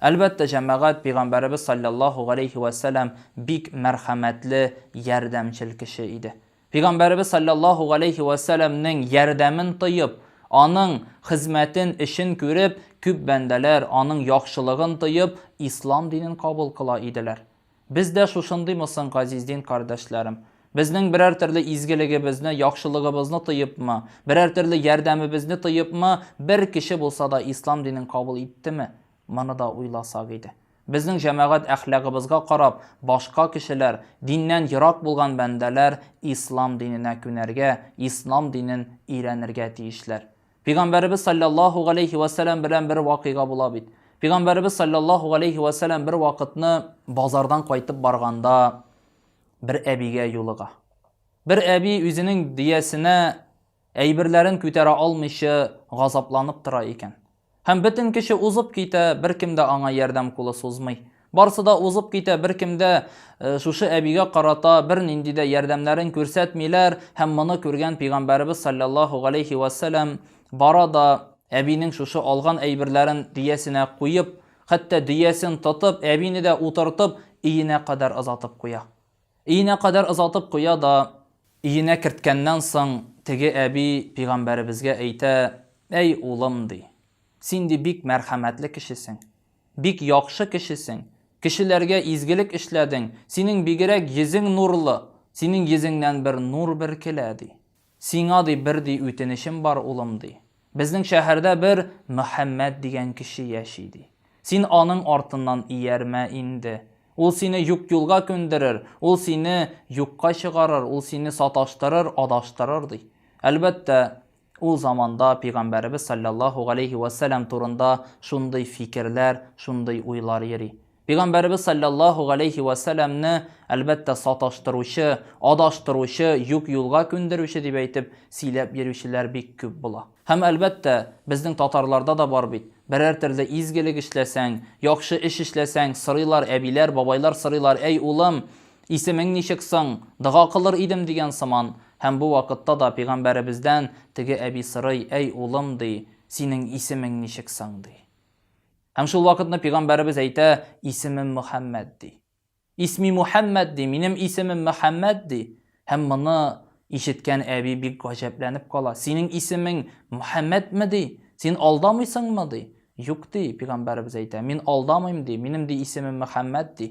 Әлбәттә, җәмәгать, пигамбәребез салләллаһу галәйһи вә сәлам бик мәрхәмәтле, ярдәмчел кеше иде. Пигамбәребез салләллаһу галәйһи вә сәламнең ярдәмен тоеп, аның хезмәтен, эшен күреп, күп бәндәләр, аның яхшылыгын тоеп, ислам динен кабул кыла иделәр. Без дә шушындыймы соң, газиз дин кардәшләрем? Безнең берәр төрле изгелегебезне, яхшылыгыбызны тоепмы, берәр төрле ярдәмебезне тоепмы, бер кеше булса да ислам динен кабул иттеме? Моны да уйласак иде. Безнең җәмәгать әхлагыбызга карап, башка кешеләр, диннән ерак булган бәндәләр ислам диненә күнәргә, ислам динен өйрәнергә тиешләр. Пигамбәребез саллаллаху галейхи ва сәләм белән бер вакыйга була бит. Пигамбәребез саллаллаху галейхи ва сәләм бер вакытны базардан кайтып барганда бер әбигә юлыга. Бер әби үзенең диясенә әйберләрен күтәрә алмыйча газапланып тора икән. Һәм бөтен кеше узып китә, беркем дә аңа ярдәм кулы сузмый. Барысы да узып китә, беркем дә э, шушы әбигә карата бернинди дә ярдәмнәрен күрсәтмиләр һәм моны күргән пәйгамбәребез саллаллаху галейхи вассәлам бара да әбинең шушы алган әйберләрен дөясенә куеп, хәтта дөясен тотып, әбине дә утыртып, иенә кадәр озатып куя. Иенә кадәр озатып куя да, иенә керткәннән соң теге әби пәйгамбәребезгә әйтә, әй улым ди, син ди бик мәрхәмәтле кешесең. Бик яхшы кешесең. Кешеләргә изгелек эшләдең. Синең бигерәк йөзең нурлы. Синең йөзеңнән бер нур беркелә, ди. Сиңа, ди, бер, ди, үтенечем бар, улым, ди. Безнең шәһәрдә бер Мөхәммәт дигән кеше яши, ди. Син аның артыннан иярмә инде. Ул сине юк юлга күндерер, ул сине юкка чыгарыр, ул сине саташтырыр, адаштырыр, ди. Әлбәттә, Ул заманда пигамбәребез салләллаһу галәйһи ва сәлам турында шундый фикерләр, шундый уйлар йөри. Пигамбәребез салләллаһу галәйһи ва сәламне, әлбәттә, саташтыручы, адаштыручы, юк юлга күндерүче дип әйтеп, сөйләп йөрүчеләр бик күп була. Һәм, әлбәттә, безнең татарларда да бар бит, берәр төрле изгелек эшләсәң, яхшы эш эшләсәң, сорыйлар, әбиләр, бабайлар сорыйлар, әй улым, Исемең ничек соң? Дога кылыр идем, дигән сыман. Һәм бу вакытта да Пәйгамбәребездән теге әби сорый, Әй, улым, ди, синең исемең ничек соң? ди. Һәм шул вакытны Пәйгамбәребез әйтә, Исемем Мөхәммәд, ди. Исми Мухәммәд, ди, минем исемем Мөхәммәд, ди. Һәм моны ишеткән әби бик гаҗәпләнеп кала. Синең исемең Мөхәммәдме, ди? Син алдамыйсыңмы, ди? Юк, ди, Пәйгамбәребез әйтә, мин алдамыйм, ди, минем, ди, исемем Мөхәммәд, ди.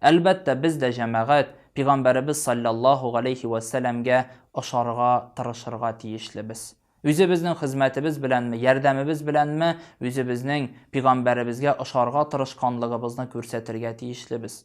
Әлбәттә, без дә җәмәгать, Пигамбәребез салләллаһу галәйһи вә сәләмгә ошарга тырышырга тиешлебез. Үзебезнең хезмәтебез беләнме, ярдәмебез беләнме үзебезнең Пигамбәребезгә ошарга тырышканлыгыбызны күрсәтергә тиешлебез.